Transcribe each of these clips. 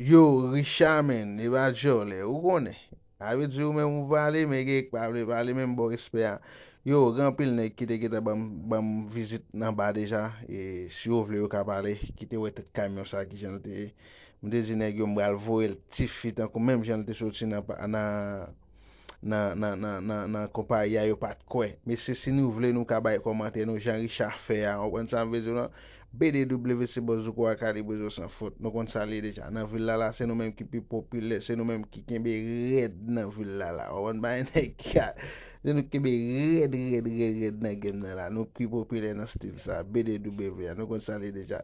Yo Richard menn e pa djòlè ou konnen sa vle di ou menm ou pale men gen k pa vle pale menm bon respè a yo gen anpil nèg ki te gentan banm banm vizit nan ba deja e si yo vle yo ka pale ki te wè tèt kamyon sa ki jan l te ye m te di nèg yo m pral voye l tifi tankou menm jan l te soti nan nan nan konpayi a yo pat kwè. Mesye si nou vle nou ka bay kòmantè nou jan Richard fè a, ou konprann sam vle di w lan? BDW se bòs zouko a kalibrezo san fot. Nou konn sa l ye deja. Nan vil la la se nou menm ki pi popilè, se nou menm ki kenbe rèd nan vil la la. Ou konprann bagay nèg la? Se nou ki kenbe rèd rèd rèd rèd nan game nan la. Nou pi popilè nan stil sa. BDW a. Nou konn sa l ye deja.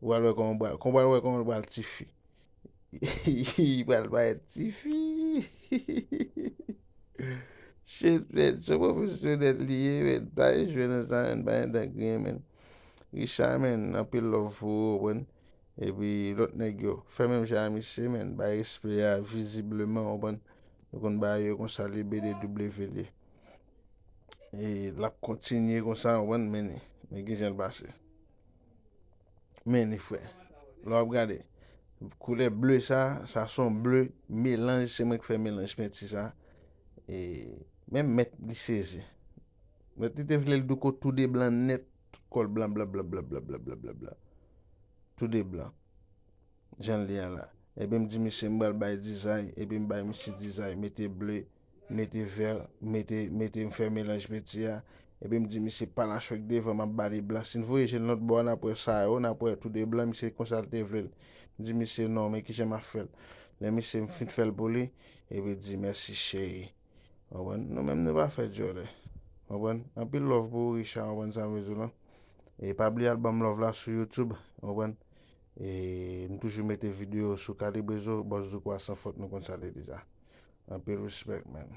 Ou pral wè kòman ou pral wè kòman ou pral tifi. Li pral parèt tifi. Shit men, se profesyonèl li ye men, pa al jwe nan sa men, pa gen dan griyen men. Richard men, anpil love pou ou men. Epi lòt nèg yo, fè menm jan a misye men, bay respè a vizibleman ou konprann. Nou konn bagay yo konsa li BDW li ye. E l ap kontinye konsa ou konprann men, men ki jan l pase. Men li fre. Lè wap gade. Koulè ble sa. Sa son ble. Melanj. Se mwen ki fè melanj penti sa. E. Menm met li sezi. Met li te vle l douko tou de blan net. Tout kol blan blan blan blan blan blan blan blan blan. Tou de blan. Jan li a la. Epi m di misye m bal bay dizay. Epi m bay misye dizay. Mete ble. mete vèl mete mete mfè melanj peti a epi mdi misye pa la chwek devan map bali blan sin voye jel lòt bò a nap wè sa yo nap wè tou de blan misye konsal te vlel mdi misye non men kijan map fèl lè misye mfin fèl pou li epi di mèsi cheri konprann nou menm nou pa fè dyòlè konprann anpil love pou ou Richard konprann sam vle diw lan e pa bliye al banm love la sou YouTube konprann e mtoujou mete video sou Kalibre Zo Bòs Douko a san fot nou konn sa l ye deja. Anpil respect man.